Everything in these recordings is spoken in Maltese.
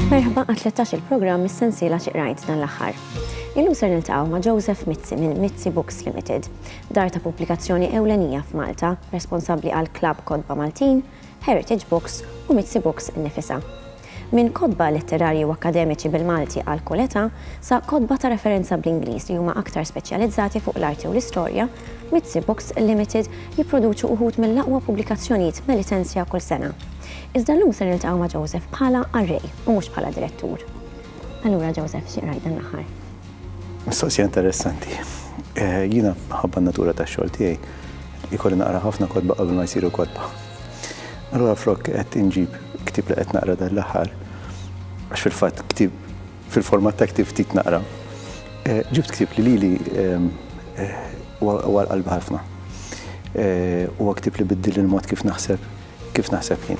Merħba għat 13 il-programm mis-sensiela xi qrajt dan l-aħħar. Illum ser niltaqgħu ma' Joseph Mizzi minn Mizzi Books Limited, dar ta' pubblikazzjoni ewlenija f'Malta, responsabbli għal Club Kodba Maltin, Heritage Books u Mizzi Books innifisha. Minn kotba letterarji u akkademiċi bil-Malti għal kull età, sa kotba ta' referenza bl-Ingliż li huma aktar speċjalizzati fuq l-arti u l-istorja, Mizzi Books Limited jipproduċu uħud mill-aqwa pubblikazzjonijiet Melitensia kull sena. Iżda llum se niltaqgħu ma' Joseph bħala qarrej u mhux bħala direttur. Allura Joseph, xi qrajt dan l-aħħar? Mistoqsija interessanti. Jiena minħabba n-natura tax-xogħol tiegħi, ikolli naqra ħafna kotba qabel ma jsiru kotba. Allura flok qed inġib ktieb li qed naqra dan l-aħħar, għax fil-fatt ktieb fil-format ta' ktieb ftit naqra, eh, ġibt ktieb li lili ehm, eh, huwa qalbi ħafna. Eh, huwa ktieb li biddil il-mod kif naħseb kif naħseb jien.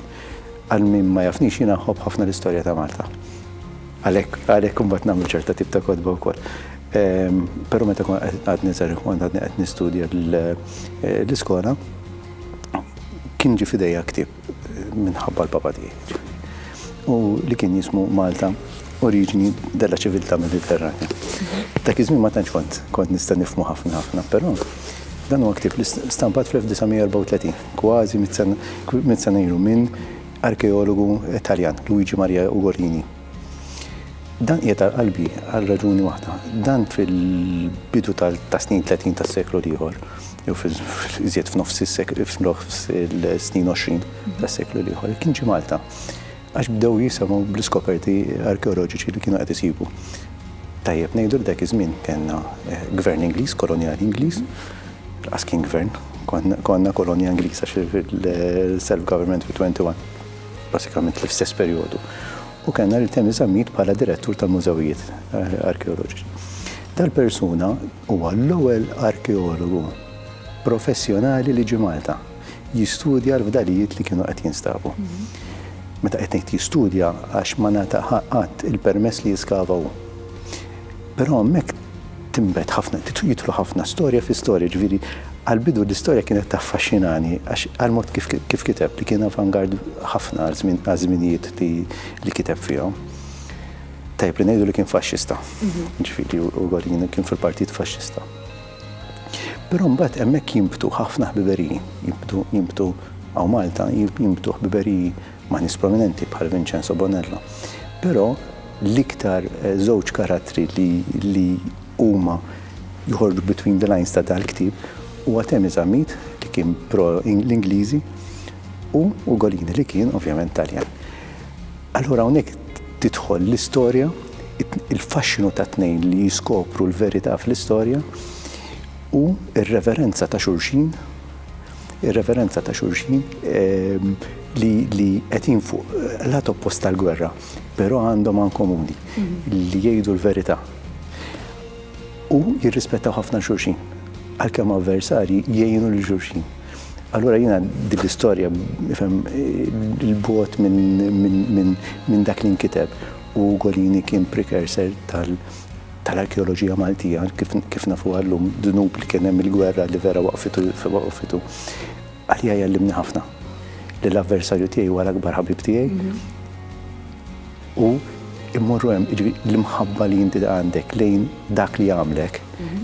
Għal min ma jafnix jien naħob ħafna l-istorja ta' Malta. Għalhekk għalhekk imbagħad nagħmlu ċerta tip ta' kodba wkoll. Ehm, però meta għad niżar għadni qed nistudja l-iskola, kien ġie f'idejja ktieb minħabba l-Papa tiegħi, ġifieri, u li kien jismu Malta Oriġini della Civiltà Mediterranja. Dak iż-żmien ma tantx kont kont nista' nifhmu ħafna ħafna, però dan huwa ktieb li stampat fl-1934, kważi mit-sena ilu minn arkeologu Taljan, Luigi Maria Ugolini. Dan qiegħed għal qalbi għal raġuni waħda. Dan fil-bidu tas-snin 30 tas-seklu l-ieħor, jew iżjed f'nofs is-snin 20 tas-seklu l-ieħor, kien ġie Malta. Għax bdew jisimgħu bl-iskoperti arkeoloġiċi li kienu qed isibu. Tajjeb ngħidu li dak iż-żmien kellna eh, gvern Ingliż, kolonjal Ingliż, as kien gvern, konna kolonja Ingliża fil-self-government fit-21. basikament l-istess perjodu, u kellna lil Temi Zammit bħala direttur tal-mużewijiet arkeoloġiċi. Dal-persuna huwa l-ewwel arkeologu professjonali li ġi Malta jistudja l-fdalijiet li kienu qed jinstabu. Meta qed ngħid jistudja għax ma nata qatt il-permess li jiskavaw. Però hemmhekk tinbet ħafna, jidħlu ħafna storja fi storja, ġifieri għall-bidu l-istorja kienet taffaxxinani għax għall-mod kif kif kiteb li kien avant-garde ħafna għall-żmien għaż-żminijiet li li kiteb fihom. Tajjeb li ngħidu li kien faxxista. Ġifieri Ugolin kien fil-Partit Faxxista. Però mbagħad hemmhekk jinbtu ħafna ħbiberiji, jinbtu jinbtu hawn Malta jinbtu ħbiberiji ma' nies prominenti bħal Vincenzo Bonello. Però l-iktar żewġ karattri li li huma joħorġu between the lines ta' dal-ktieb huwa Temi Zammit li kien pro l-Ingliżi u Ugolini li kien ovvjament Taljan. Allura hawnhekk tidħol l-istorja, il-faxxinu ta' tnejn li jiskopru l-verità fl-istorja u r-reverenza ta' xulxin ir-referenza ta' xulxin ehm, li qegħdin fuq lat oppost tal-gwerra, però għandhom għan komuni mhm. li jgħidu l-verità. U jirrispettaw ħafna xulxin, għalkemm avversari jgħinu l xulxin. Allora jina dil-istorja, il-bot minn dak li nkiteb u Golini kien precursor tal- tal-arkeoloġija Maltija, kif kif nafuha llum, dnub li kien hemm il-gwerra li vera waqfitu waqfitu, għalija jgħallimni ħafna li l-avversarju tiegħi huwa l-akbar ħabib tiegħi u mmorru hemm, jiġifieri l-imħabba li inti għandek lejn dak li għamlek,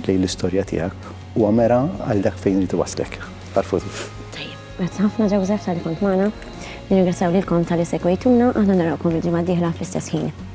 lejn l-istorja tiegħek, huwa mera għal dak fejn irid iwasslek għall-futur. Tajjeb. Grazzi ħafna Joseph talli kont magħna. Nirringrazzjaw lilkom talli segwejtuna, aħna narawkom il-ġimgħa d-dieħla fl-istess ħin.